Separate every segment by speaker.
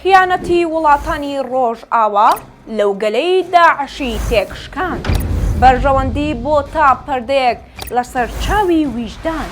Speaker 1: خیانەتی وڵاتانی ڕۆژئاوا لەو گەلەی داعشی تێکشکاند، بەرژەوەندی بۆ تا پەردەیەک لەسەر چاوی ویژدان.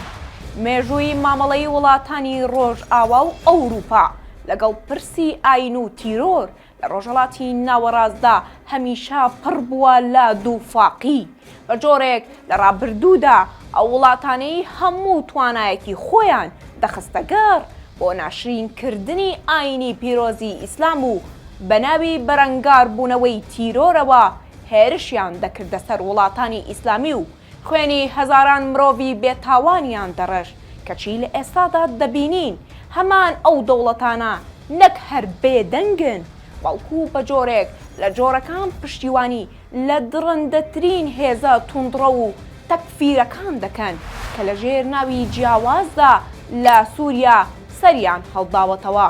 Speaker 1: مێژووی مامەڵەی وڵاتانی ڕۆژئاوا و ئەوروپا لەگەڵ پرسی ئایین و تیرۆر لە ڕۆژهەڵاتی ناوەڕاستدا هەمیشە پڕ بووە لە دووفاقی. بە جۆرێک لە ڕابردوودا ئەو وڵاتانەی هەموو توانایەکی خۆیان دەخستە گەڕ بۆ ناشرین کردنی ئاینی پیرۆزی ئیسلام و بە ناوی بەرەنگار بوونەوەی تیرۆرەوە هێرشیان دەکردە سەر وڵاتانی ئیسلامی و خوێنی هەزاران مرۆڤی بێ تاوانیان دەڕشت کەچی لە ئێستادا دەبینین هەمان ئەو دەوڵەتانە نەک هەر بێدەنگن بەڵکو بە جۆرێک لە جۆرەکان پشتیوانی لە دڕندەترین هێزە توندڕەو و تەکفیرەکان دەکەن کە لە ژێر ناوی جیاوازدا لە سوریا سەریان هەڵداوەتەوە.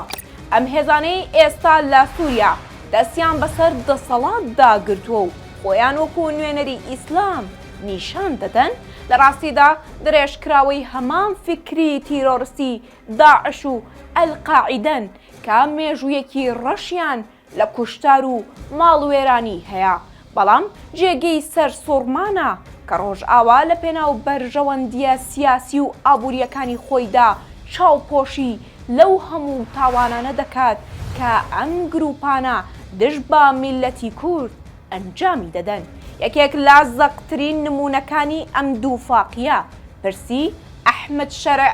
Speaker 1: ئەم هێزانەی ئێستا لە سوریا دەستیان بەسەر دەسەڵاتدا گرتووە و خۆیان وەکو نوێنەری ئیسلام نیشان دەدەن، لە ڕاستیدا دڕێژکراوەی هەمان فیکری تیرۆرستی داعش و ئەلقاعیدەن کە مێژوویەکی ڕەشیان لە کوشتار و ماڵوێرانی هەیە، بەڵام جێگەی سەرسوڕمانە کە ڕۆژئاوا لە پێناو بەرژەوەندییە سیاسی و ئابوورییەکانی خۆیدا چاوپۆشی لەو هەموو تاوانانە دەکات کە ئەم گرووپانە دژ بە میللەتی کورد ئەنجامی دەدەن. یەکێک لە زەقترین نموونەکانی ئەم دووفاقییە، پرسی ئەحمەد شەرع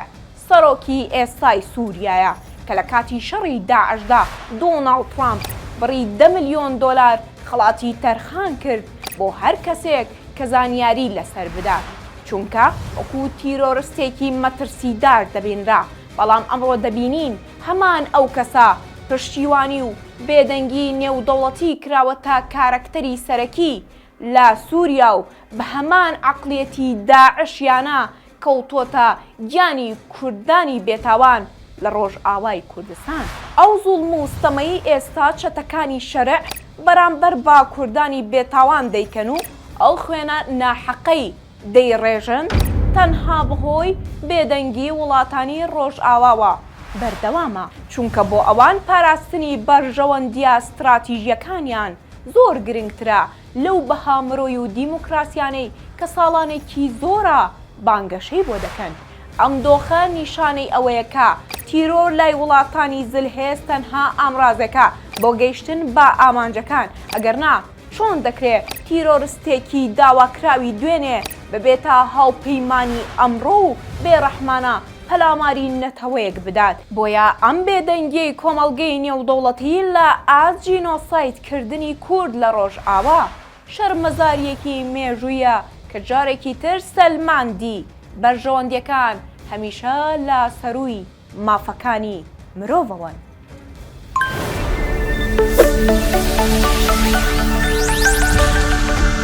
Speaker 1: سەرۆکی ئێستای سووریایە کە لە کاتی شەڕی داعشدا دۆناڵد ترامپ بڕی دە ملیۆن دۆلار خەڵاتی تەرخان کرد بۆ هەر کەسێک کە زانیاری لەسەر بدات چونکە وەکو تیرۆرستێکی مەترسیدار دەبینرا بەڵام ئەمڕۆ دەبینین هەمان ئەو کەسە پشتیوانی و بێدەنگی نێودەوڵەتی کراوەتە کارەکتەری سەرەکی لە سووریا و بە هەمان عەقڵیەتی داعشیانە کەوتۆتە گیانی کوردانی بێتاوان لە ڕۆژئاوای کوردستان. ئەو زوڵم و ستەمەی ئێستا چەتەکانی شەرع بەرامبەر بە کوردانی بێتاوان دەیکەن و ئەو خوێنە ناحەقەی دەیڕێژن، تەنها بەهۆی بێدەنگی وڵاتانی ڕۆژئاواوە بەردەوامە، چونکە بۆ ئەوان پاراستنی بەرژەوەندییە ستراتیژییەکانیان زۆر گرنگترە لەو بەها مرۆی و دیموکراسیانەی کە ساڵانێکی زۆرە بانگەشەی بۆ دەکەن. ئەم دۆخە نیشانەی ئەوەیە کە تیرۆر لای وڵاتانی زلهێز تەنها ئامرازێکە بۆ گەیشتن بە ئامانجەکان، ئەگەرنا چۆن دەکرێ تیرۆرستێکی داواکراوی دوێنێ ببێتە هاوپەیمانی ئەمڕۆ و بێڕەحمانە پەلاماری نەتەوەیەک بدات؟ بۆیە ئەم بێدەنگیەی کۆمەڵگەی نێودەوڵەتی لە ئاست جینۆساید، کردنی کورد لە ڕۆژئاوا شەرمەزارییەکی مێژوویە کە جارێکی تر سەلماندی بەرژەوەندییەکان هەمیشە لە سەرووی مافەکانی مرۆڤەوەن.